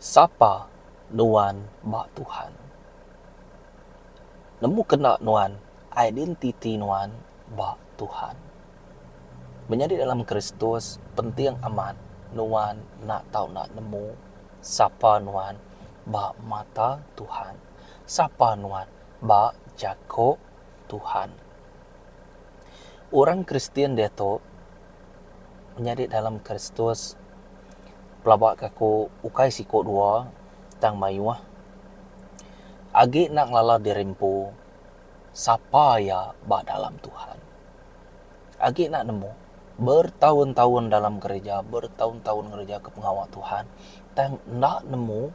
Sapa nuan ba Tuhan? Nemu kena nuan identiti nuan ba Tuhan. Menyadi dalam Kristus penting amat nuan enda tau enda nemu sapa nuan ba mata Tuhan, sapa nuan ba jaku Tuhan. Orang Kristian diatu nyadi dalam Kristus pelaba ke aku ukai siku dua tang mayuh agi enda ngelala diri empu sapa iya ba dalam Tuhan. Agi enda nemu bertahun-tahun dalam gerija, bertahun-tahun ngereja ke pengawa Tuhan tang enda nemu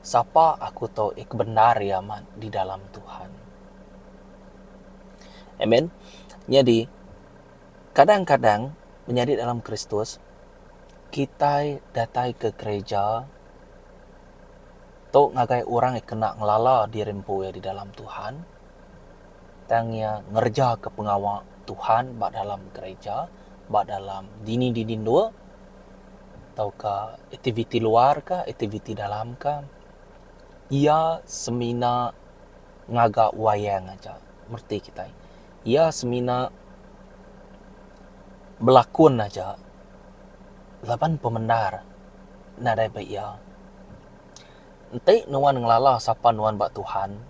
sapa aku tu ke bendar iya di dalam Tuhan. Amen. Nyadi, kadang-kadang menyadi dalam Kristus, kitai datai ke gerija tu ngagai orang ke kena ngelala diri empu iya di dalam Tuhan, tang iya ngerejaka pengawa Tuhan ba dalam gerija, ba dalam dini-dini endur, tauka aktiviti luarkah, aktiviti dalamkah. Iya semina. ngaga wayang aja reti kitai. Iya semina belakun aja laban pemendar nadai ba iya. Enti nuan ngelala sapa nuan ba Tuhan,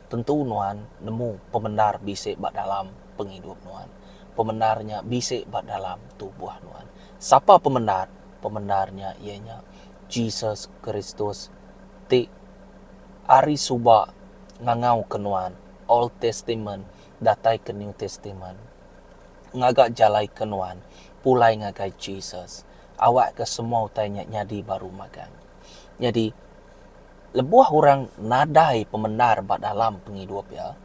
tentu nuan nemu pemendar bisi ba dalam pengidup nuan. Pemendar nya bisi ba dalam tubuh nuan. Sapa pemendar? Pemendar nya iya nya Jesus Kristus ti. Ari suba ngangau ke nuan, Old Testament datai ke New Testament. Ngaga jalai ke nuan pulai ngagai Jesus, awak ke semua utai nya nyadi baru magang. Nyadi, lebuh orang nadai pemendar ba dalam pengidup iya,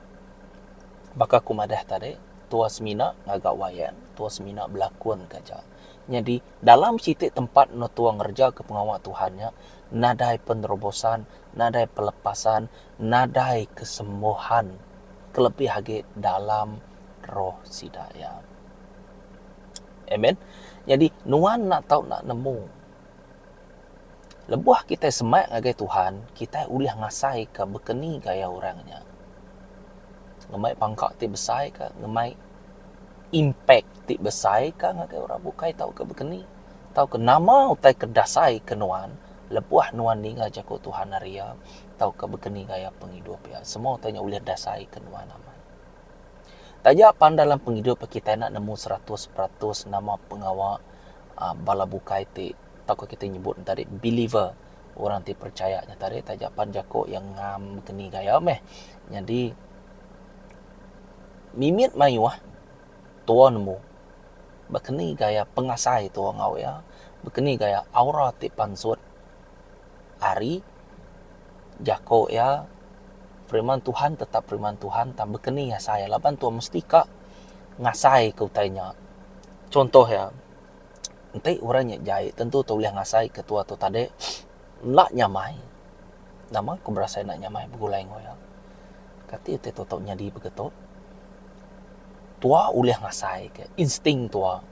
baka aku madah tadi, tuah semina ngaga wayang, tuah semina belakun ka aja. Nyadi, Dalam siti tempat enda tua ngerejaka pengawa Tuhan nya, nadai penerobosan, nadai pelepasan, nadai kesembuhan, kelebih agi dalam roh sida iya. Amen. Nyadi nuan enda tau enda nemu. Lebuh kitai semak ngagai Tuhan, kitai ulih ngasaika bekeni gaya orang nya. Ngemai pangka ti besai ka ngemai impak ti besai ka ngagai orang bukai tauka bekeni tauka nama utai ke dasai ke nuan lebuh nuan ninga jaku Tuhan hari iya tauka bekeni gaya pengidup iya. Semua utai nya ulih dasai ke nuan amat. Taja pan dalam pengidup kitai enda nemu seratus peratus nama pengawa aaa bala bukai ti. atau ko kite nyebut ne tadi believer orang ti percaya nya tadi taja pan jako iya ngam keni gaya meh nyadi mimit maioh tuo nemu beh keni gaya pengasai tuo ngau iya beh keni gaya aura ti pansut ari jako iya firman tuhan tetap firman tuhan tang beh keni asai laban tuo mesti ka ngasai ke utai nya contoh iya. Enti orang nya jai tentu tau ulih ngasai ketua tu tadi enda nyamai. Nama ku berasai enda nyamai begulai enggau iya? Kati enti tau tau nyadi begitu? Tua ulih ngasai ke, insting tua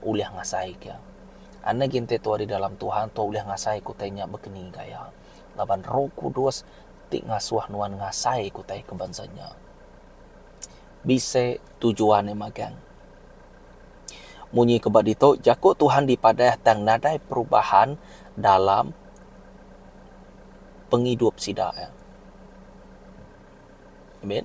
ulih ngasai ke. Anda agi enti tua di dalam Tuhan, tua ulih ngasai ke utai nya bekeni gaya. Laban Roh Kudus ti ngasuh nuan ngasai ke utai ke bansa nya. Bisi tujuan iya magang. Munyi ke ba ditu, jaku Tuhan dipadah tang nadai perubahan dalam pengidup sida. Amen.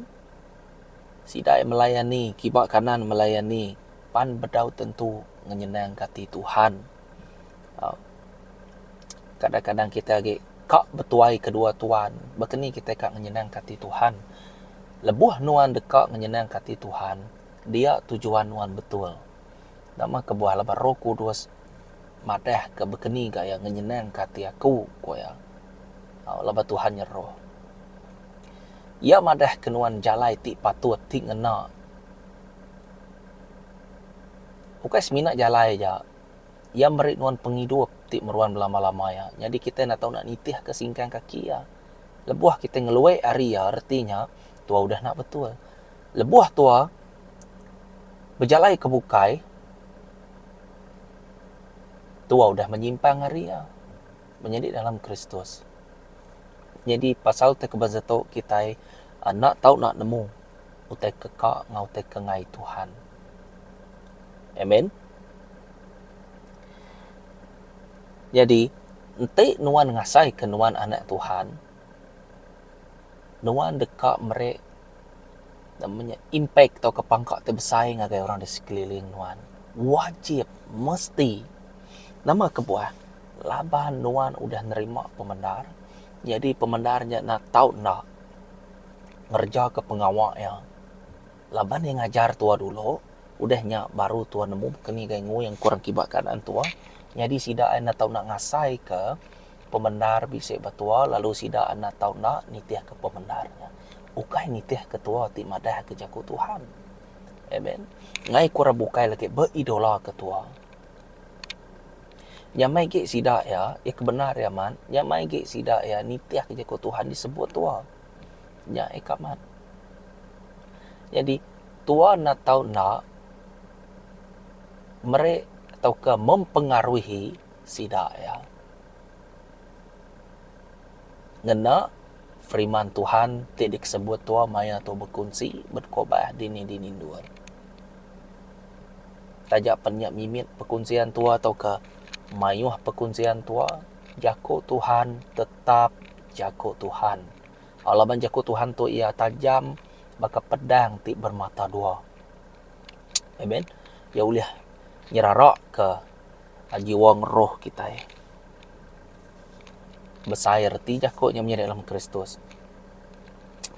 Sida iya melayani, kiba kanan melayani pan bedau tentu ngenyenangka ati Tuhan. Au. Kadang-kadang kita agi ka betuai kedua tuan, baka ni kita ka ngenyenangka ati Tuhan? Lebuh nuan deka ngenyenangka ati Tuhan, Dia tujuan nuan betul. Nama kebuah laban Roh Kudus madahka bekeni gaya ngenyenangka ati aku, ku iya. Au, laban Tuhan nya Roh. Iya madahka nuan jalai ti patut, ti ngena. Ukai semina jalai aja, iya meri nuan pengidup ti meruan belama-lama iya. Nyadi kitai enda tau enda nitihka singkang kaki iya. Lebuh kitai ngeluek ari iya, reti nya Tuai udah enda betul. Lebuh tua, bejalai ke bukai, tua udah menyimpang ari iya, menyadi dalam Kristus. Nyadi pasal te ke bansa tu kitai enda tau nak nemu utai ke ka enggau utai ke ngai Tuhan. Amen. Nyadi enti nuan ngasaika nuan anak Tuhan, Nuan deka meri nama nya impact atau pangka ti besai ngagai orang di sekeliling nuan. Wajib, mesti, nama kebuah laban nuan udah nerima pemendar nyadi pemendar nya enda tau enda ngereja ke pengawa iya. Laban iya ngajar tua dulu udah nya baru tua nemu baka ni gai ngui engku orang kiba keadaan tua nyadi sida ai enda tau ngasai ke. Pemendar bisi ba tua lalu sida enda tau enda nitihka pemendar nya. Ukai nitihka tua ti madahka Jaku Tuhan. Amen. Ngai ku orang bukai lagi beidolaka tua. Nyamai agi sida iya, iya ke bendar iya amat, nyamai agi sida iya nitihka Jaku Tuhan disebut tua. Nya iya ke amat. Nyadi, tua enda tau enda meri tauka mempengaruhi Sida iya. Ngena Firiman Tuhan ti dikesebut tua maya tu bekunsi bet kubah dini-dini endur. Taja pen nya mimit pekunsian tua tauka maioh pekunsian tua, Jako Tuhan tetap jako Tuhan. Laban jako Tuhan tu iya tajam baka pedang ti bermata dua. Amen. Iya ulih nyeraraka Jiwang roh kitai besai reti jaku nya menyadi dalam Kristus.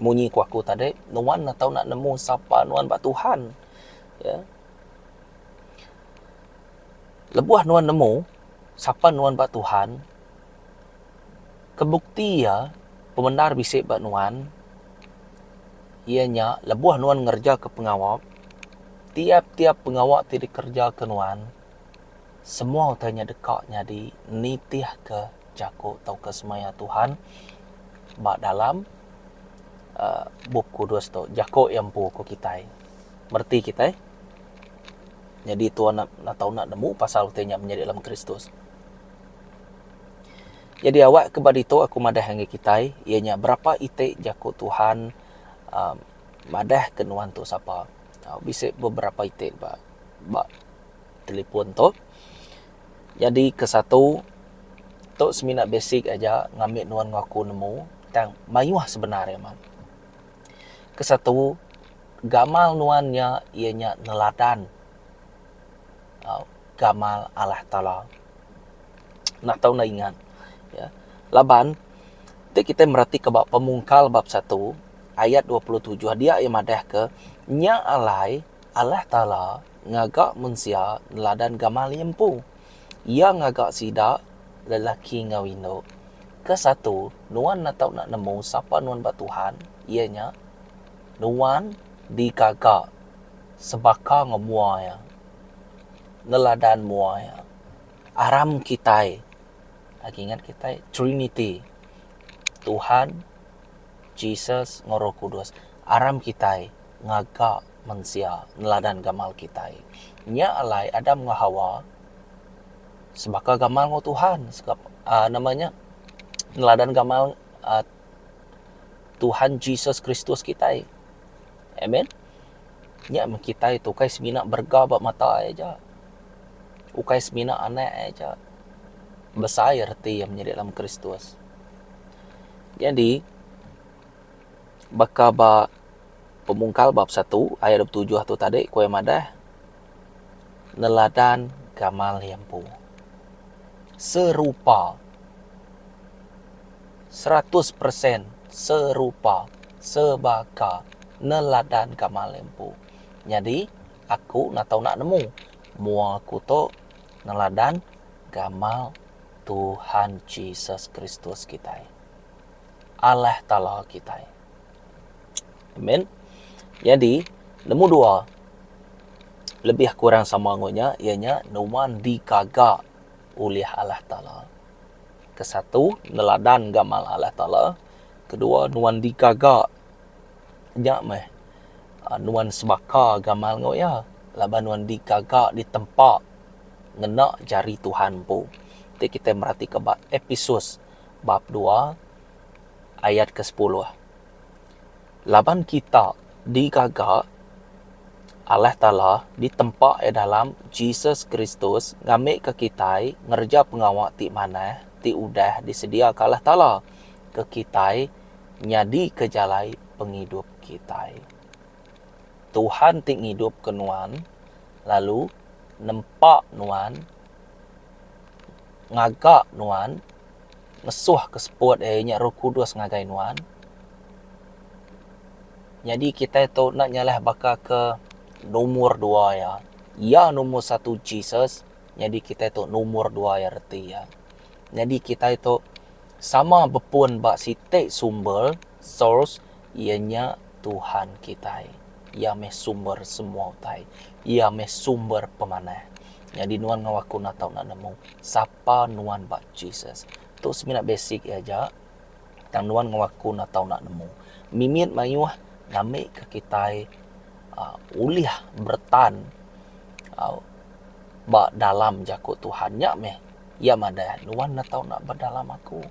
Munyi ku aku tadi, nuan enda tau nemu sapa nuan ba Tuhan. Ya. Lebuh nuan nemu sapa nuan ba Tuhan, kebukti iya pemendar bisi ba nuan, iya nya lebuh nuan ngerejaka pengawa, tiap-tiap pengawa ti dikerejaka nuan, semua utai nya deka nyadi nitihka jaku tauka semaya Tuhan ba dalam aaa Bup Kudus tu, Jaku iya empu ku kitai. Bereti kitai nyadi tau enda nemu pasal utai nya menyadi dalam Kristus. Nyadi awak ke ba ditu aku madah ngagai kitai iya nya berapa iti jaku Tuhan uhh madah ke nuan tu sapa. Bisi beberapa iti ba ba telefon tu. Nyadi ke satu tu semina basic aja ngambi nuan enggau aku nemu tang mayuh sebenar iya mah. Ke satu gamal nuan nya iya nya neladan uhh gamal Allah Taala. enda tau enda ingat ya laban ti kitai meratika ba pemungkal bab satu ayat dua puluh tujuh dia iya madahka nya alai Allah taala ngaga mensia neladan gamal iya empu iya ngaga sida lelaki enggau indu ke satu nuan enda tau nemu sapa nuan ba Tuhan iya nya nuan digaga sebaka enggau mua iya. neladan mua iya. Aram kitai agi ingat kitai trinity Tuhan, Jesus enggau roh kudus. Aram kitai ngaga mensia neladan gamal kitai. Nya alai Adam enggau Hawa sebaka gamal enggau Tuhan uhh nama nya neladan gamal uhh Tuhan Jesus Kristus kitai. Amen. Nya meh kitai tu ukai semina berega ba mata iya aja. Ukai semina anak iya aja. Besai reti iya menyadi dalam Kristus. Nyadi, baka ba Pemungkal bab satu ayat dua puluh tujuh tu tadi, ku iya madah, neladan gamal iya empu. Serupa. Seratus persen serupa sebaka neladan gamal iya empu. Nyadi aku enda tau nak nemu mua aku tu neladan gamal Tuhan Jesus Kristus kitai. Allah Taala kitai. Amen. Nyadi, nemu dua lebih kurang sama enggau nya iya nya nuan digaga ulih Allah Taala. Ke satu neladan gamal Allah Taala, ke dua nuan digaga nya meh nuan sebaka gamal enggau iya laban nuan digaga ditempa ngena jari Tuhan empu. Ti kitai meratika ba Episus bab dua. ayat ke sepuluh. Laban kita digaga Allah Taala ditempa iya dalam Jesus Kristus ngambika kitai ngereja pengawa ti manah ti udah disediaka Allah Taala ke kitai nyadika jalai pengidup kitai. Tuhan ti ngidupka nuan lalu nempa nuan ngaga nuan. Lesuh ke seput eh inya Roh Kudus ngagai nuan. Nyadi kitai tu enda nyalah baka ke numur dua iya. Iya numur satu Jesus, nyadi kitai tu numur dua iya reti iya. Nyadi kitai tu sama bepun ba siti sumber, source, iya nya Tuhan kitai. Iya meh sumber semua utai. Iya meh sumber pemanah. Nyadi nuan enggau aku enda tau enda nemu sapa Apa nuan ba Jesus? Tu semina basic iya aja tang nuan ngawa ku enda tau enda nemu. Mimit mayuh ngambika kitai uhh ulih beretan uhh ba dalam jaku Tuhan. Nya meh iya madah nuan enda tau enda ba dalam aku.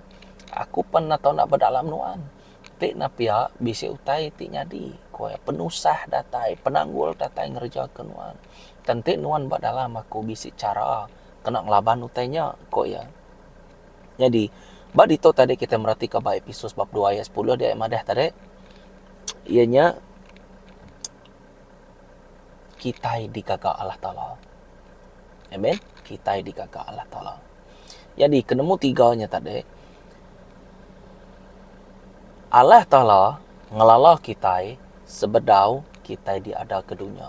Aku pan enda tau enda ba dalam nuan. Ti ne pia bisi utai ti nyadi ku iya. Penusah datai, penanggul datai ngereja ke nuan. Tang ti nuan ba dalam aku bisi chara. kena ngelaban utai nya, ku iya. Nyadi, ba ditu tadi kitai meratika ba Episus bab dua ayat sepuluh dia iya madah tadi, iya nya kitai digaga Allah Taala. Amen. Kitai digaga Allah Taala. Nyadi ke nemu tiga nya tadi, Allah Taala ngelala kitai sebedau kitai diada ke dunya.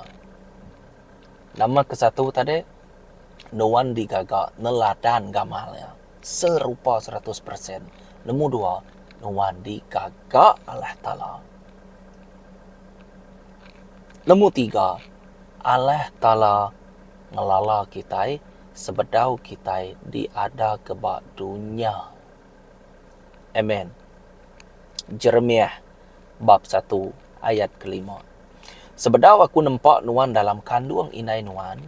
Nama ke satu tadi nuan digaga neladan gamal nya serupa seratus persen. Nemu dua nuan digaga Allah Taala. Nemu tiga Allah Taala ngelala kitai sebedau kitai diada ke ba dunya. Amen. Jeremiah bab satu ayat kelima. Sebedau aku nempa nuan dalam kandung indai nuan,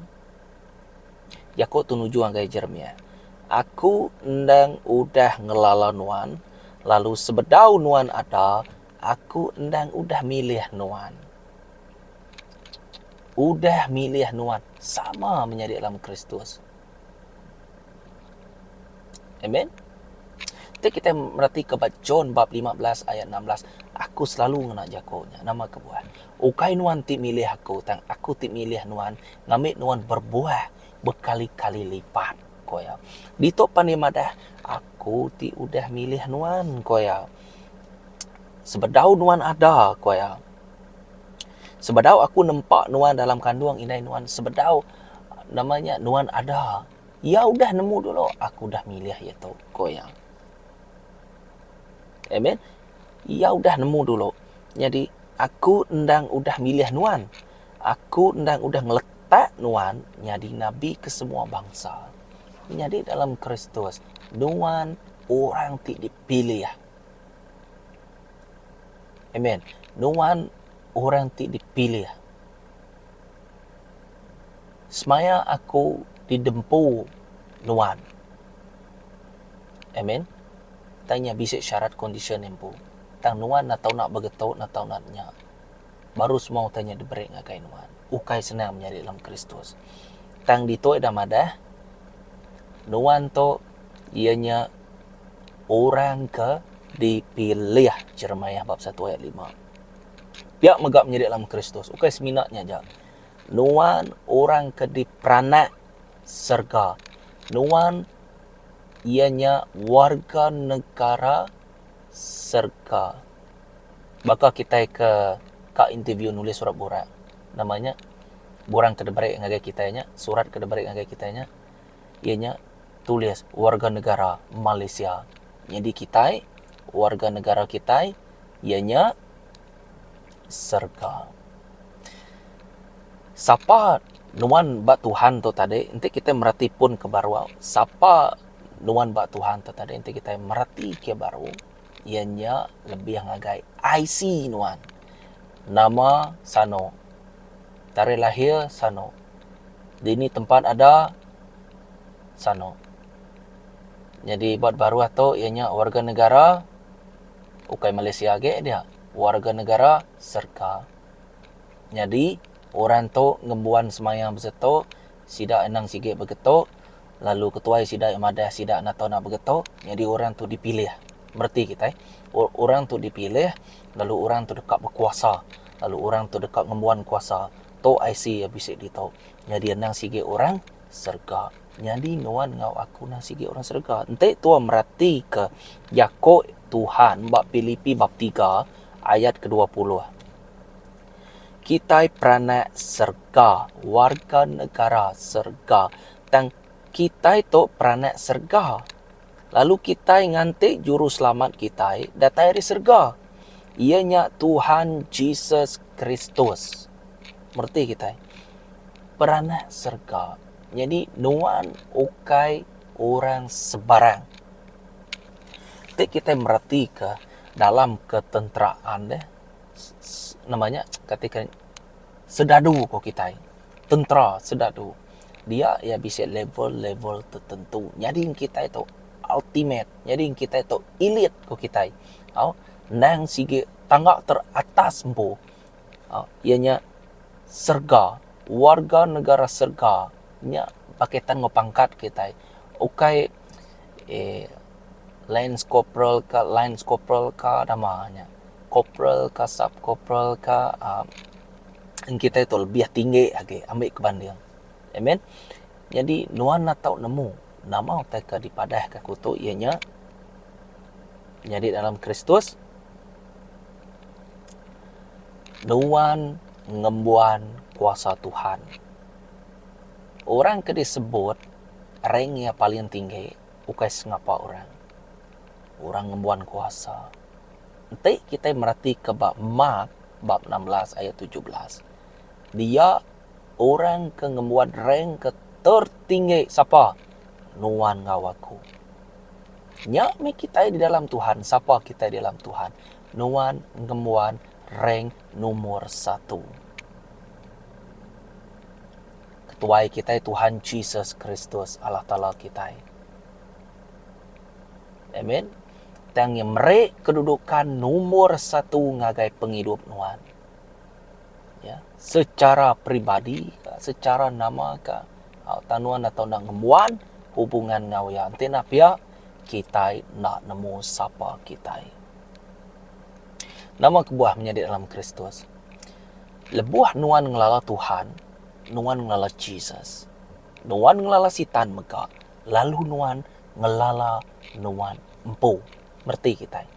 jaku tu nuju ngagai Jeremiah, aku endang udah ngelala nuan, lalu sebedau nuan ada, aku endang udah milih nuan. Udah milih nuan sama menyadi dalam Kristus. Amen. Ti kita merati ke ba John bab 15 ayat 16, aku selalu ngena jako nya. Nama kebuah? Ukai nuan ti milih aku, tang aku ti milih nuan ngambi nuan berbuah bekali-kali lipat, ko iya. Ditu pan iya madah, aku ti udah milih nuan, ko iya. Sebedau nuan ada, ko iya. Sebedau aku nempa nuan dalam kandung indai nuan sebedau nama nya nuan ada iya udah nemu dulu aku udah milih iya tu ku iya. Amen iya udah nemu dulu nyadi aku endang udah milih nuan aku endang udah ngeletak nuan nyadi nabi ke semua bangsa. Nyadi dalam Kristus nuan orang ti dipilih. Amen. Nuan orang ti dipilih. Semaya aku didempu nuan. Amen. Tang nya bisi syarat kondisyen empu. Tang nuan enda tau nak begetu enda tau nak nya. Baru semua utai nya diberi ngagai nuan. Ukai senang menyadi dalam Kristus. Tang ditu ida madah nuan tu iya nya orang ke dipilih, Jeremiah bab satu ayat lima. Pia mega menyadi dalam Kristus, ukai semina nya aja. Nuan orang ke diperanak serega. Nuan iya nya warga negara serega. Baka kitai ke ka interview nulis surat burak, nama nya, buran ke diberi ngagai kitai nya, surat ke diberi ngagai kitai nya, Iya nya tulis warga negara Malaysia. Nyadi kitai, warga negara kitai iya nya serga. Sapa nuan ba Tuhan tu tadi enti kitai mereti pun ke baru, sapa nuan ba Tuhan tu tadi enti kitai mereti ke baru iya nya lebih ngagai IC nuan. Nama Sano. Tarikh lahir Sano. Dini tempat ada Sano. Nyadi ba baruh tu iya nya warga negara ukai Malaysia agi dia, warga negara Serka. Nyadi orang tu ngembuan semaya bisitu sida anang sigi begetu. lalu ketuai sida iya madah sida enda tau nak begeto nyadi orang tu dipilih mereti kitai orang tu dipilih lalu orang tu deka bekuasa lalu orang tu deka ngembuan kuasa tu IC iya bisi ditu nyadi endang sigi orang serega nyadi nuan enggau aku endang sigi orang serega enti tuan mereti ke jako Tuhan ba pilipi bab tiga ayat ke dua puluh. Kitai peranak serega, warga negara serega. Tang kitai tu peranak serega. Lalu kitai nganti Juruselamat kitai datai ari serega, iya nya Tuhan Jesus Kristus. Mereti kitai? Peranak serega. Nyadi nuan ukai orang sebarang. Ti kitai meretika dalam ketenteraan deh. nama nya kati ka sedadu ko kitai tentera sedadu dia iya bisi level level tertentu nyadi ngan kitai tu ultimate nyadi ngan kitai tu elite ko kitai tau endang sigi tangga teratas empu iya nya serega warga negara serega nya baka tang pangkat kitai ukai Eh lance corporal ka lance corporal ka nama nya corporal ka sub corporal ka uhh en kita tu lebih tinggi agi ambi ke banding amen nyadi nuan enda tau nemu nama utai ke dipadah ke aku tu iya nya nyadi dalam kristus nuan ngembuan kuasa tuhan orang ke disebut Rank iya paling tinggi ukai sengapa orang. Orang ngembuan kuasa. Enti kitai meratika ba Mark bab enam belas ayat tujuh belas, dia orang ke ngembuan rank ke tertinggi sapa? Nuan enggau aku. Nya mih kitai di dalam Tuhan, sapa kitai di dalam Tuhan, nuan ngembuan rank numur satu. Ketuai kitai Tuhan Jesus Kristus, Allah Taala kitai. Amen. Tang iya meri kedudukan nombor satu ngagai pengidup nuan. Ya, secara peribadi, secara nama ke, ha, tang nuan atau nak ngembuan hubungan ngau iya. Enti nak pia, kitai nak nemu sapa kitai. Nama kebuah menyadi dalam Kristus? Lebuh nuan ngelala Tuhan, Nuan ngelala Jesus. Nuan ngelala Sitan mega, lalu nuan ngelala nuan empu. Mereti kitai.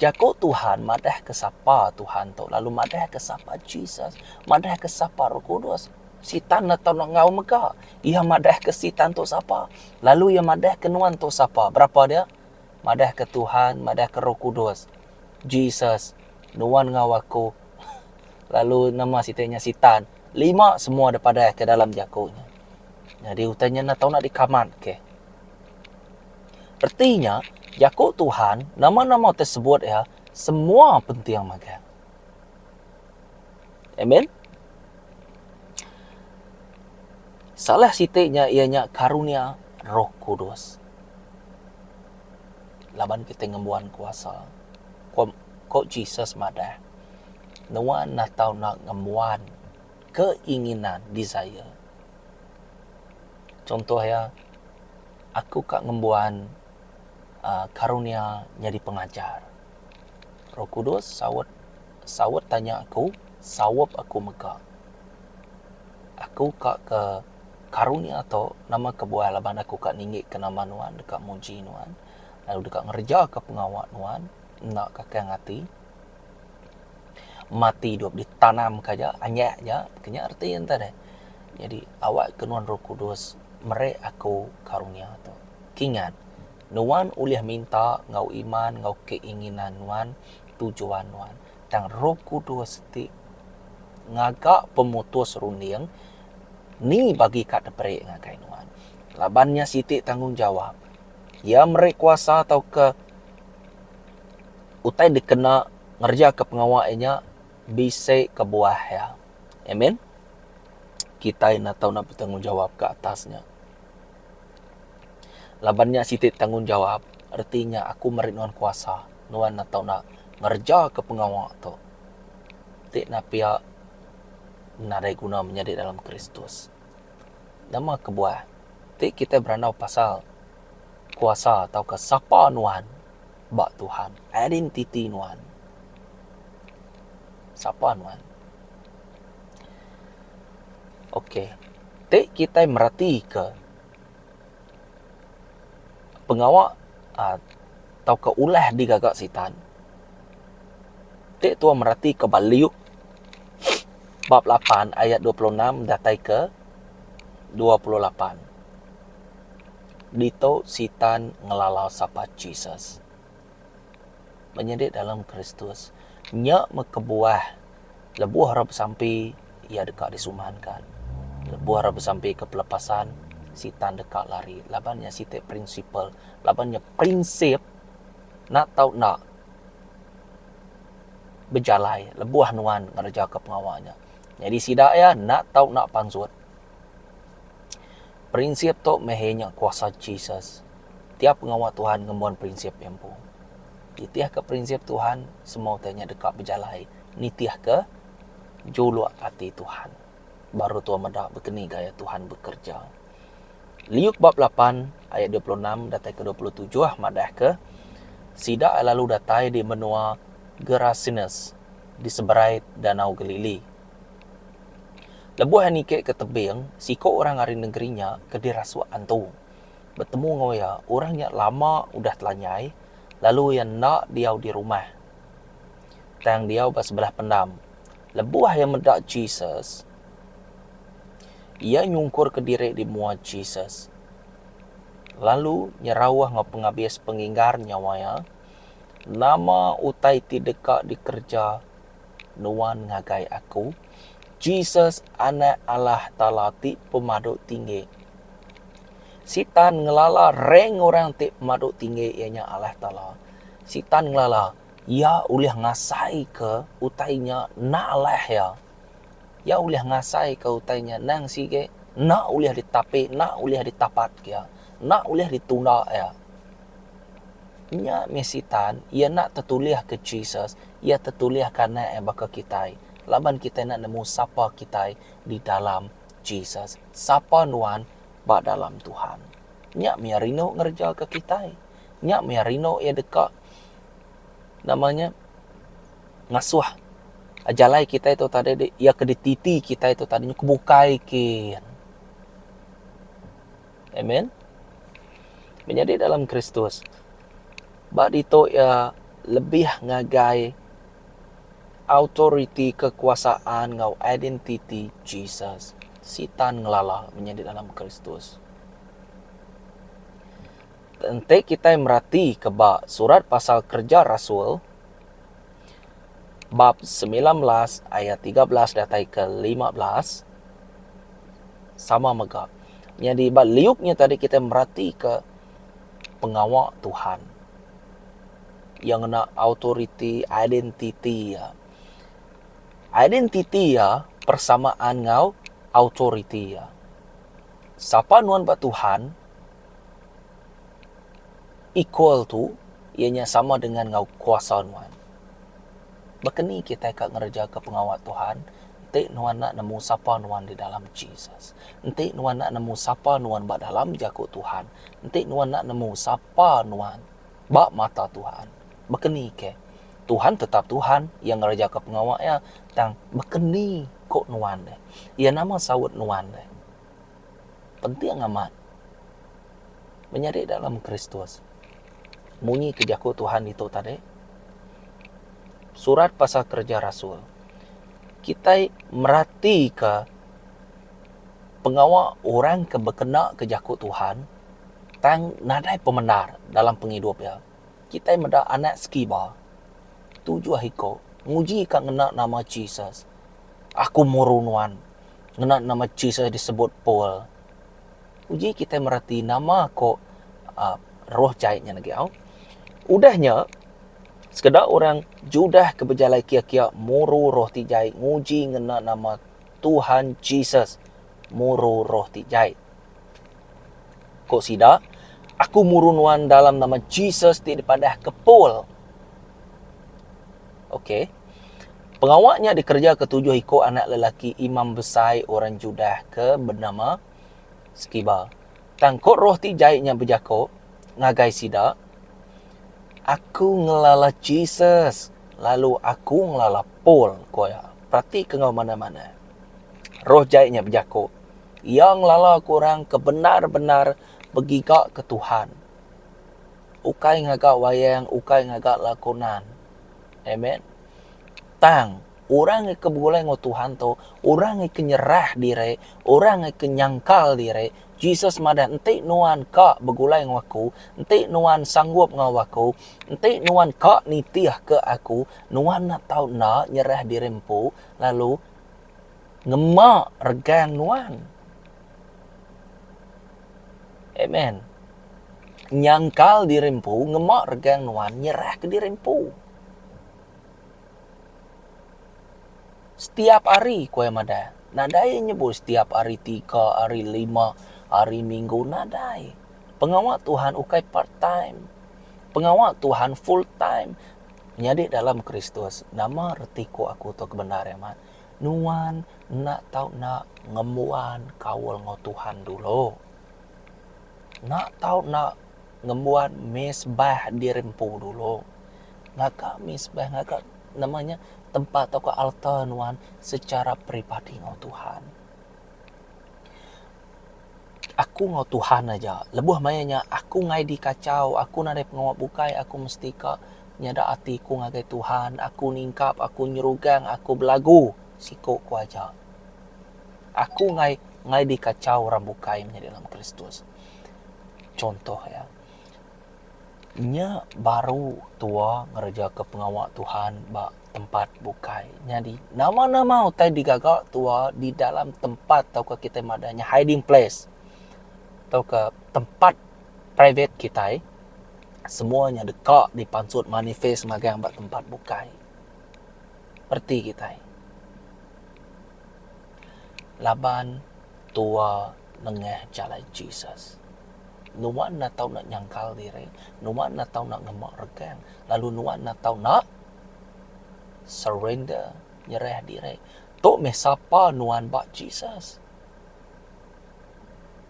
Jaku Tuhan madahka sapa Tuhan tu, lalu madahka sapa Jesus, madahka sapa Roh Kudus. Sitan enda tau deka ngaul mega. Iya madahka Sitan tu sapa, lalu iya madahka nuan tu sapa. Berapa dia? madahka Tuhan madahka Roh Kudus, Jesus, nuan enggau aku lalu nama siti nya Sitan, lima semua deh padah ke dalam jaku nya. Nyadi utai nya enda tau nak dikamatke. Reti nya, jaku Tuhan, nama-nama ti sebut iya, semua penting mega. Amen. Salah siti nya iya nya karunia Roh Kudus. laban kitai ngembuan kuasa. Ko ko Jesus madah, nuan neh tau na ngembuan keinginan, desire. Chuntoh iya, aku ka ngembuan aaa karunia nyadi pengajar. Roh Kudus saut saut tanya aku, saup aku mega. Aku ka ke Karunia tu, nama kebuah laban aku ka ninggika nama nuan deka muji nuan, lalu deka ngerejaka pengawa nuan enda kakang ati. Mati dua ditanamka aja, anyah aja, kenya reti enta deh. Nyadi awakka nuan roh kudus meri aku karunia tu. Kingat, nuan ulih minta enggau iman enggau keinginan nuan, tujuan nuan. Tang roh kudus ti ngaga pemutus runding Ni bagi ka teperik ngagai nuan? Laban nya siti tanggungjawap. Iya meri kuasa tauka utai dikena ngerejaka pengawa iya nya bisi kebuah iya. Amen. Kitai enda tau enda betanggungjawap ke atas nya. Laban nya siti tanggungjawap, reti nya aku meri nuan kuasa, nuan enda tau enda ngerejaka pengawa tu. Ti enda pia. nadai guna menyadi dalam Kristus. Nama kebuah ti kitai berandau pasal kuasa tauka sapa nuan ba Tuhan, identiti nuan. Sapa nuan. Ok. Ti kitai meratika. pengawa tauka ulah digaga Sitan ti tuan meratika ba Luke bab lapan ayat dua puluh enam datai ke dua puluh lapan. Ditu Sitan ngelala sapa Jesus. Menyadi dalam Kristus nya meh kebuah lebuh orang besampi iya deka disumanka. Lebuh orang besampi ke pelepasan, Sitan deka lari laban nya siti prinsipal laban nya prinsip enda tau enda bejalai lebuh nuan ngereja pengawa nya. Nyadi sida iya enda tau enda pansut. Prinsip tu meh iya nya kuasa Jesus. Tiap pengawa Tuhan ngembuan prinsip iya empu. Nitihka prinsip Tuhan, semua utai nya deka bejalai. Nitihka juluk ati Tuhan, baru tuan meda begeni gaya Tuhan bekereja. Liuk bab lapan ayat dua puluh enam datai ke dua puluh tujuh madahka, Sida lalu datai di menua Gerasenes, di seberai Danau Galili. Lebuh niki ke tebing, siko orang ari nengeri nya ke dirasuk antu, betemu enggau iya. Orang nya lama udah telanyai, lalu iya enda diau di rumah, tang diau ba sebelah pendam. Lebuh iya meda Jesus, iya nyungkurka diri di mua Jesus, lalu nyerauh enggau pengabis penginggar nyawa iya, Nama utai ti deka dikereja Nuan ngagai aku, Jesus Anak Allah Taala ti pemadu tinggi. Sitan ngelala reng orang ti pemadu tinggi iya nya Allah Taala. Sitan ngelala iya ulih ngasai ke utai nya enda alah iya. Iya ulih ngasai ke utai nya nang sigi enda ulih ditapi enda ulih ditapat ke iya enda ulih ditunda iya. Nya mih Sitan, iya enda tetulihka Jesus, iya tetulihka Anak iya baka kitai, laban kitai enda nemu sapa kitai di dalam Jesus, sapa nuan ba dalam Tuhan. Nya mih iya rindu ngerejaka kitai. Nya mih iya rindu iya deka nama nya ngasuh jalai kitai tu tadi iya ke dititi kitai tu tadi kebukai kin. Amen. Menyadi dalam Kristus. Ba ditu iya lebih ngagai autoriti kekuasaan enggau identiti Jesus. Sitan ngelala menyadi dalam Kristus. Enti kitai merati ke ba surat pasal Kereja Rasul bab 19 ayat 13 datai ke 15, sama mega. Nyadi ba liuk nya tadi kitai meratika pengawa Tuhan iya ngena autoriti identiti iya. Identiti iya persamaan enggau autoriti iya. Sapa nuan ba Tuhan equal to iya nya sama dengan enggau kuasa nuan. Baka ni kitai ka ngerejaka pengawa Tuhan? Enti nuan enda nemu sapa nuan di dalam Jesus. Enti nuan enda nemu sapa nuan ba dalam Jaku Tuhan. Enti nuan enda nemu sapa nuan ba mata Tuhan. Baka ni ke? Tuhan tetap Tuhan. Iya ngerejaka pengawa Iya. Tang baka ni ko nuan deh? Iya nama saut nuan deh? penting amat menyadi dalam Kristus. Munyi ke jaku Tuhan ditu tadi, surat pasal kerja rasul, kitai meratika pengawa orang ke bekena ke jaku Tuhan tang nadai pemendar dalam pengidup iya. Kitai meda anak Skiba, tujuh iku, ngujika ngena nama Jesus, Aku muru nuan. Ngena nama Jesus disebut Paul, uji kitai merati nama ko roh jai nyen agi au. Udah nya, sekeda orang Judah ke bejalai kiya-kiya muru roh ti jai nguji ngena nama Tuhan Jesus muru roh ti jai. Ko sida, Aku muru nuan dalam nama Jesus ti dipadahka Paul. Okey. Pengawa nya dikereja ketujuh iku anak lelaki imam besai orang Judah ke benama Skiba. Tang ko roh ti jai nya bejako ngagai sida, Aku ngelala Jesus, lalu aku ngelala Paul, ko iya. Peratika enggau manah-manah. Roh jai nya bejako, Iya ngelalaka orang ke bendar-bendar begigaka Tuhan, ukai ngaga wayang, ukai ngaga lakonan. Amen. Tang, orang ke begulai enggau Tuhan tu, orang ke nyerah diri, orang ke nyangkal diri, Jesus madah, Enti nuan ka begulai enggau Aku, enti nuan sanggup enggau Aku, enti nuan ka nitihka Aku, nuan enda tau enda nyerah diri empu, lalu, Ngema regang nuan. Amen. Nyangkal diri empu, ngema regang nuan, nyerah ke diri empu. Setiap hari kuai madah. Nadai nyebut setiap hari tiga, hari lima, hari minggu. Nadai. Pengawa Tuhan ukai part time. Pengawa Tuhan full time. Nyadi dalam Kristus. Nama reti ku aku tu ke bendar amat. Nuan enda tau enda ngembuan kaul enggau Tuhan dulu. Enda tau enda ngembuan mesbah diri empu dulu. Ngaga mesbah ngaga nama nya tempat tauka altar nuan secara peribadi enggau Tuhan. Aku enggau Tuhan aja. Lebuh maya nya, aku ngai dikachau. Aku nadai pengawa bukai. Aku mesti ka nyada ati ku ngagai Tuhan. Aku ningkap, aku nyerugang, aku belagu, siku ku aja. Aku ngai ngai dikachau orang bukai menyadi dalam Kristus. Chuntoh iya. Nya baru tua ngerejaka pengawa Tuhan ba tempat bukai. Nyadi nama-nama utai digaga tua di dalam tempat tauka kitai madah nya hiding place tauka tempat private kitai semua nya deka dipansut manifest magang ba tempat bukai. Reti kitai. Laban tua nengah jalai Jesus. Nuan enda tau enda nyangkal diri, nuan enda tau enda ngema regang lalu nuan enda tau enda surrender, nyerah diri. Tu meh sapa nuan ba Jesus.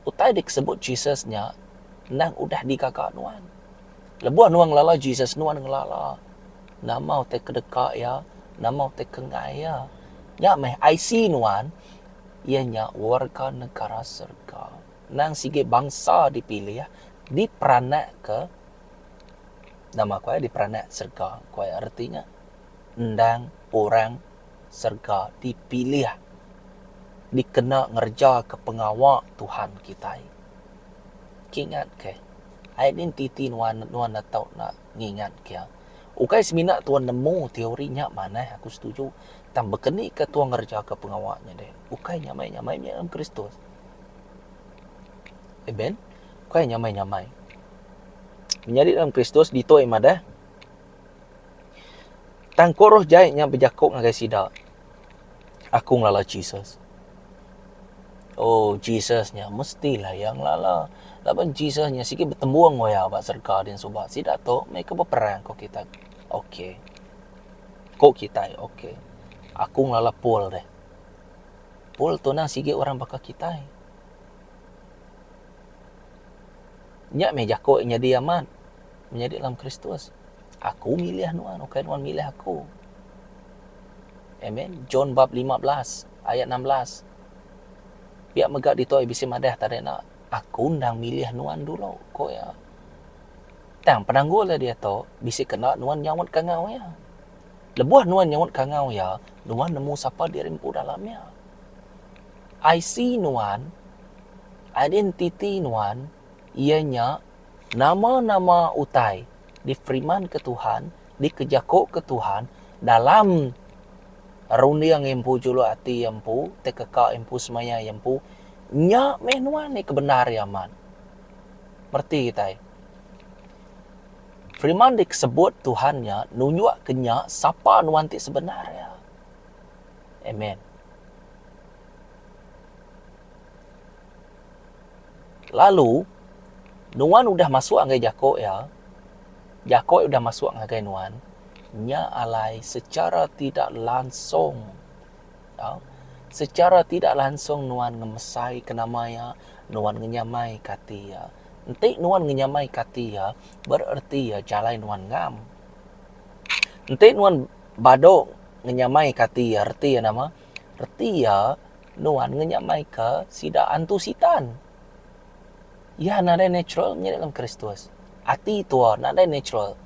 Utai disebut Jesus nya endang udah digaga nuan. Lebuh nuan ngelala Jesus, nuan ngelala nama utai ke deka iya, nama utai ke enggai iya. Nya meh IC nuan iya nya warga negara serega. Endang sigi bangsa dipilih diperanakka nama ku iya diperanak serega ku iya reti nya endang orang serega dipilih dikena ngerejaka pengawa Tuhan kitai. Ke ingatke ai nin titi nuan nuan enda tau enda ngingatke iya. Ukai semina tuan nemu teori nya manah aku setuju tang bekenika tuan ngerejaka pengawa nya deh ukai nyamai-nyamai mih dalam Kristus. Amen. Kuai nyamai-nyamai. Menyadi dalam Kristus ditoi madah. Tang ko roh jai nya bejaku ngagai sida. Aku ngelala Jesus. Oh, Jesus nya mesti lah iya ngelala. Laban Jesus nya sigi betembung oya ba serega din suba. Sida tu mei ke beperang ko kita. Okey. Ko kitai, okey. Aku ngelala Paul deh. Paul tunang sigi orang baka kitai. Nya meh jaku iya nyadi amat menyadi dalam Kristus, Aku milih nuan, ukai nuan milih aku. Amen. John bab 15 ayat 16. Pia mega ditu ai bisi madah tadi enda, Aku endang milih nuan dulu, ku iya. Tang penanggul iya diatu bisi kena nuan nyautka enggau iya. Lebuh nuan nyaut kangau iya, nuan nemu sapa diri empu dalam iya. IC nuan, identiti nuan, iya nya nama-nama utai difirmanka Tuhan, dikejakoka Tuhan dalam runding iya empu, juluk ati iya empu, utai keka iya empu, semaya iya empu. Nya meh nuan nya ke bendar iya amat. Mereti kitai. Firman dikesebut Tuhan nya nunjukka nya sapa nuan ti sebenar iya. Amen. Lalu nuan udah masuk ngagai jako iya, jako iya udah masuk ngagai nuan, nya alai secara tidak langsung tau sechara tidak langsung nuan ngemesai ke nama ia nuan ngenyamai ke ati ia enti nuan ngenyamai ke ati ia bererti ia jalai nuan ngam enti nuan badu ngenyamai ke ati ia reti ia nama reti ia nuan ngenyamai ke sida antu sitan. Iya nadai natural meri dalam Kristus. Ati tua nadai natural.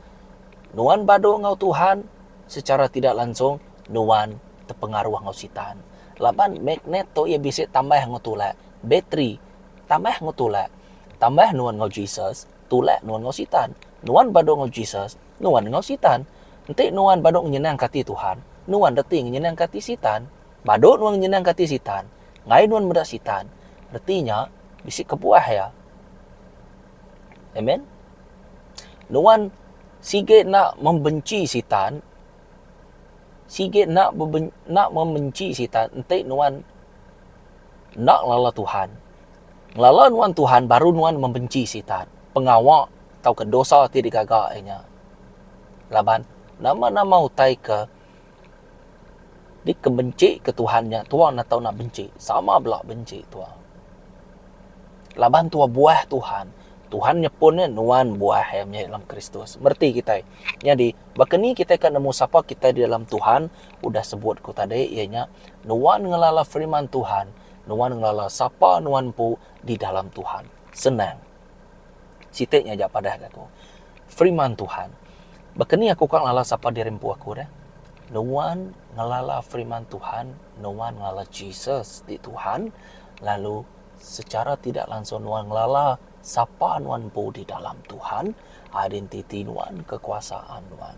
Nuan badu enggau Tuhan, secara tidak langsung nuan tepengaruh enggau sitan. Laban magnet tu iya bisi tambah enggau tulak, bateri tambah enggau tulak. Tambah nuan enggau Jesus, tulak nuan enggau sitan. Nuan badu enggau Jesus, nuan enggau sitan. Enti nuan badu ngenyenangka ati Tuhan, nuan reti ngenyenangka ati sitan. Badu nuan ngenyenangka ati sitan, Ngai nuan meda Sitan, reti nya bisi kebuah iya. Amen. Nuan sigi enda membenci Sitan, sigi enda enda membenci Sitan enti nuan enda ngelala Tuhan. Ngelala nuan Tuhan baru nuan membenci Sitan, pengawa tauka dosa ti digaga iya nya. Laban nama-nama utai ke. Di ke benci ke Tuhan nya tua enda tau nak benci sama bela benci tua. Laban tua buah Tuhan, Tuhan nyepun nya nuan buah iya meh dalam Kristus. Mereti kitai. Nyadi baka ni kitai ka nemu sapa kitai di dalam Tuhan? Udah sebut ku tadi iya nya nuan ngelala firman Tuhan, nuan ngelala sapa nuan empu di dalam Tuhan. Senang. Siti nya aja padah ke aku. Firman Tuhan. Baka ni aku ka ngelala sapa diri empu aku deh. Nuan ngelala firman Tuhan, nuan ngelala Jesus ti Tuhan, lalu secara tidak langsung nuan ngelala sapa nuan empu di dalam Tuhan, identiti nuan, kekuasaan nuan.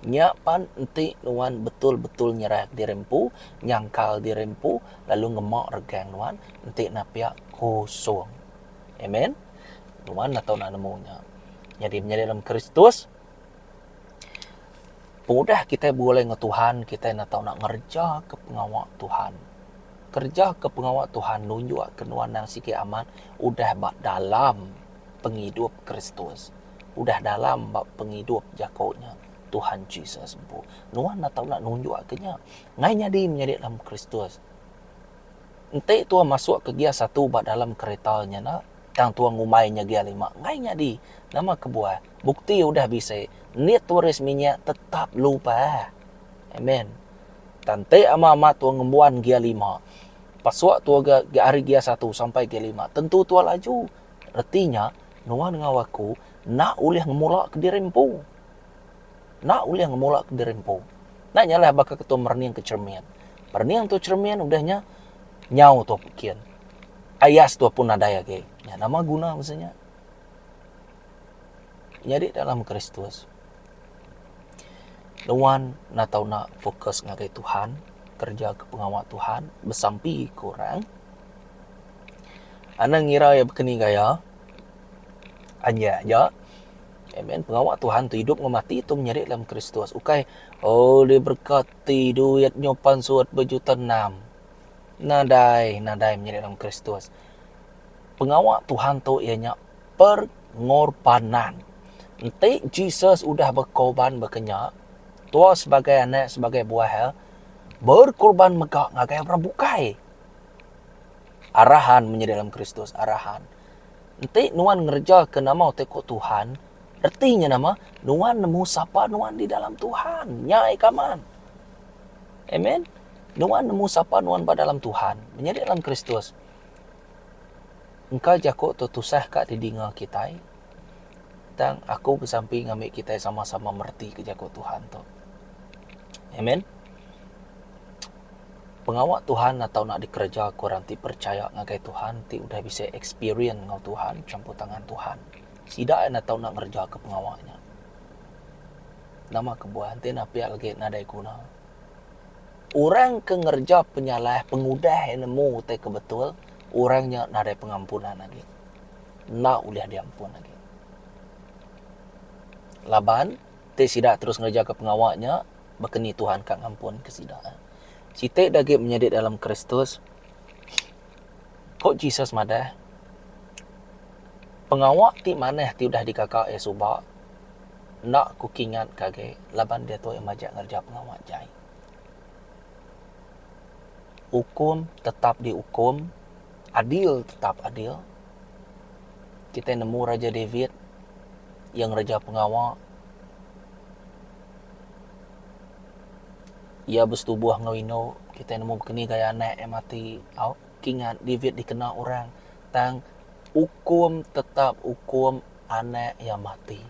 Nya pan enti nuan betul-betul nyerah diri empu, nyangkal diri empu, lalu ngema regang nuan, enti napia kosong. Amen. Tuan lah tau nak nemu nya. Jadi menyadi dalam Kristus, udah kita boleh ngan Tuhan, kita enda tau nak ngereja ke pengawa Tuhan. Kereja ke pengawa Tuhan nunjuk ke nuan nang sigi amat udah ba dalam pengidup Kristus. Udah dalam ba pengidup jako nya Tuhan Jesus empu. Nuan enda tau nak nunjuk ke nya. Ngai nyadi menyadi dalam Kristus. Enti tua masuk ke gia satu ba dalam kereta nya enda tang tua ngumbai nya gia lima enggai nyadi nama kebuah bukti udah bisi nit turis minyak tetap lupah amen tang enti ama ama tua ngembuan gia lima pasuk tua ga ari gia satu sampai gia lima tentu tua laju reti nya nuan enggau aku enda ulih ngemula kediri empu. Enda ulih ngemulaka diri empu. Enda nya alai baka ke tau merening ke cheremin. Merening tu cheremin udah nya nyau tu apu kin. Ayas tu apu nadai agi. Nya nama guna masa nya. Nyadi dalam Kristus nuan enda tau enda fokus ngagai Tuhan, kereja ke pengawa Tuhan, besampi ke orang. Anda ngira iya baka ni gaya? Anjai aja. Amen pengawa Tuhan tu idup enggau mati tu menyadi dalam Kristus ukai oh diberkati duit nyupan surat bejuta enam nadai nadai menyadi dalam Kristus pengawa Tuhan tu iya nya perngorbanan enti Jesus udah bekorban baka nya tua sebagai anak sebagai buah iya berkorban mega ngagai orang bukai arahan menyadi dalam Kristus arahan Enti nuan ngerejaka nama utai ku Tuhan, reti nya nama? Nuan nemu sapa nuan di dalam Tuhan. Nya ai kaman. Amen. Nuan nemu sapa nuan ba dalam Tuhan. Menyadi dalam Kristus. Engka jaku tu tusah ka didinga kitai. Tang aku besampi ngambi kitai sama-sama meretika jaku Tuhan tu. Amen. Pengawa Tuhan atau enda dikereja ku orang ti perechaya ngagai Tuhan ti udah bisi ekspirien enggau Tuhan champur tangan Tuhan. Sida ain atau enda ngerejaka pengawa nya. Nama kebuah enti enda pia legi nadai guna. Orang ke ngereja penyalah pengudah iya nemu utai ke betul, orang nya nadai pengampunan agi. Enda ulih diampun agi. Laban. Ti sida terus ngerejaka pengawa nya baka ni Tuhan ka ngampunka sida. Siti da agi menyadi dalam Kristus, ku Jesus madah, Pengawa ti manah ti udah digaga iya suba, enda Aku kingatka agi, laban diatu iya majak ngereja pengawa jai. Ukum tetap diukum. Adil tetap adil. Kitai nemu Raja David, iya ngereja pengawa. Iya besetubuh enggau indu. Kitai nemu bekeni gaya anak iya mati. Au, kingat David dikena orang. Tang, ukum tetap ukum anak iya mati.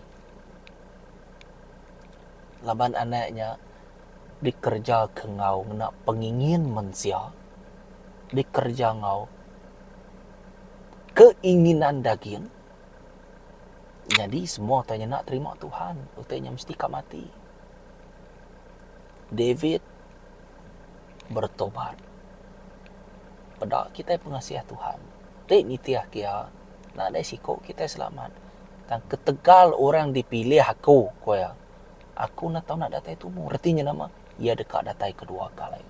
Laban anak nya Dikerejaka enggau ngena pengingin mensia, dikereja enggau keinginan daging, nyadi semua utai nyena terima Tuhan, utai nya mesti ka mati. David beretobat peda kitai pengasih Tuhan, ti nitihka iya nadai siko kitai selamat. Tang ketegal orang dipilih aku, ku iya. Aku enda tau enda datai tumu. Reti nya nama? Iya deka datai kedua kali.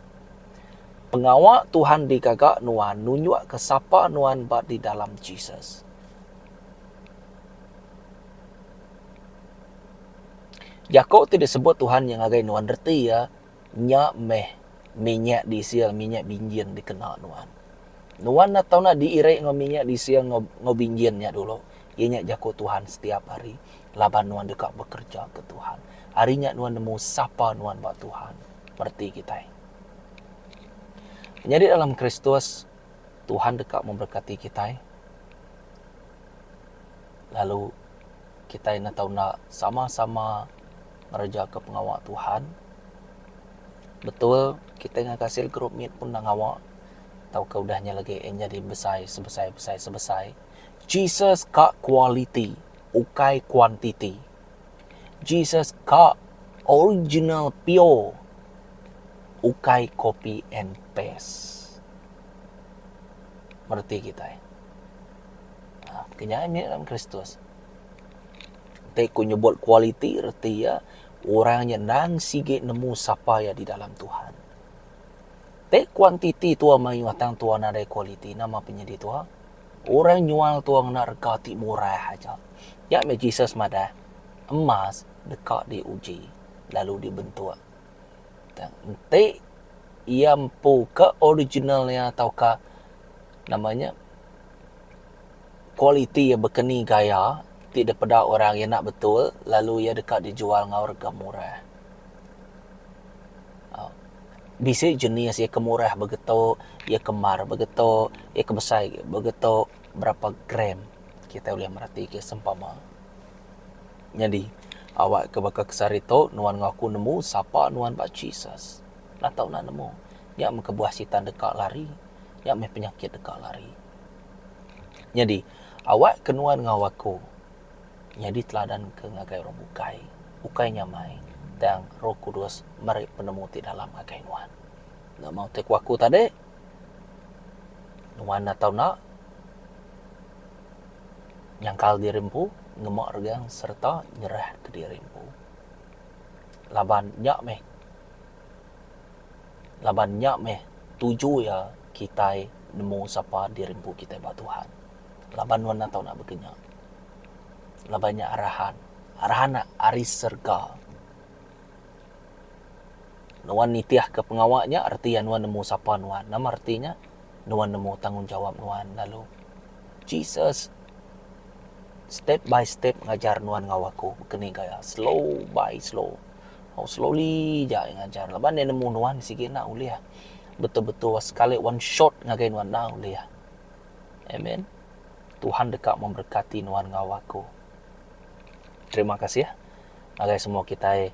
Pengawa Tuhan digaga nuan nunjukka sapa nuan ba di dalam Jesus. Jaku ti disebut Tuhan nya ngagai nuan reti iya, nya meh minyak disil, minyak binjin dikena nuan. Nuan enda tau diiri enggau minyak disil enggau binjin nya dulu, iya nya jaku Tuhan setiap hari. Laban nuan deka bekereja ke Tuhan. Ari nya nuan nemu sapa nuan ba Tuhan. Mereti kitai. Menyadi dalam Kristus, Tuhan deka memberkati kitai. Lalu kitai enda tau enda sama-sama ngerejaka pengawa Tuhan. Betul, kitai ngagai cell group mit pun enda ngawa tauka udah nya lagi en jadi besai sebesai besai sebesai. Jesus ka kualiti. ukai kuantiti. Jesus ka original pure ukai copy and paste. Mereti kitai. Ha, kenyai meh dalam Kristus. Te ku nyebut kualiti reti ya orang nya nang sigi nemu sapa ya di dalam Tuhan. Te kuantiti tua mayuh tang tua nadai kualiti nama penyedi tua? Orang nyual tua ngena rega ti murah aja. Nya meh Jesus madah, Emas deka diuji, lalu dibentuk. Tang enti iya empu ke original iya tauka nama nya kualiti iya bekeni gaya ti dipeda orang iya enda betul lalu iya deka dijual enggau rega murah. Bisi jenis iya ke murah bagi tu, iya ke mar bagi tu, iya ke besai agi bagi tu, berapa gram kita ulih mereti ke sempama. Nyadi awak ke baka ke sehari tu nuan enggau aku nemu sapa nuan ba Jesus. Enda tau enda nemu. Nya meh kebuah Sitan deka lari. Nya meh penyakit deka lari. Nyadi awak ke nuan enggau aku. nyadi teladan ke ngagai orang bukai, ukai nya mai tang Roh Kudus meri penemu ti dalam ngagai nuan. Enda maoh ti aku aku tadi, nuan enda tau enda nyangkal diri empu, ngema regang sereta nyerahka diri empu. Laban nya meh laban nya meh tuju iya kitai nemu sapa diri empu kitai ba Tuhan. laban nuan enda tau nak bekenya. Laban nya arahan, arahan nya ari serega. Nuan nitihka pengawa nya reti iya nuan nemu sapa nuan. Nama reti nya? Nuan nemu tanggungjawap nuan lalu. Jesus step by step ngajar nuan enggau aku keni gaya slow by slow. Tau slowly aja iya ngajar laban iya nemu nuan sigi enda ulih betul-betul sekali one shot ngagai nuan enda ulih. Amen. Tuhan deka memberkati nuan enggau aku. Terima kasih ngagai semua kitai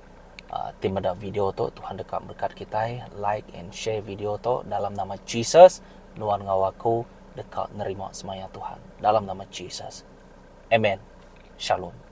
uh, ti meda video tu. Tuhan deka berkat kitai. Like and share video tu dalam nama Jesus. Nuan enggau aku deka nerima semaya Tuhan. Dalam nama Jesus. Amen. Shalom.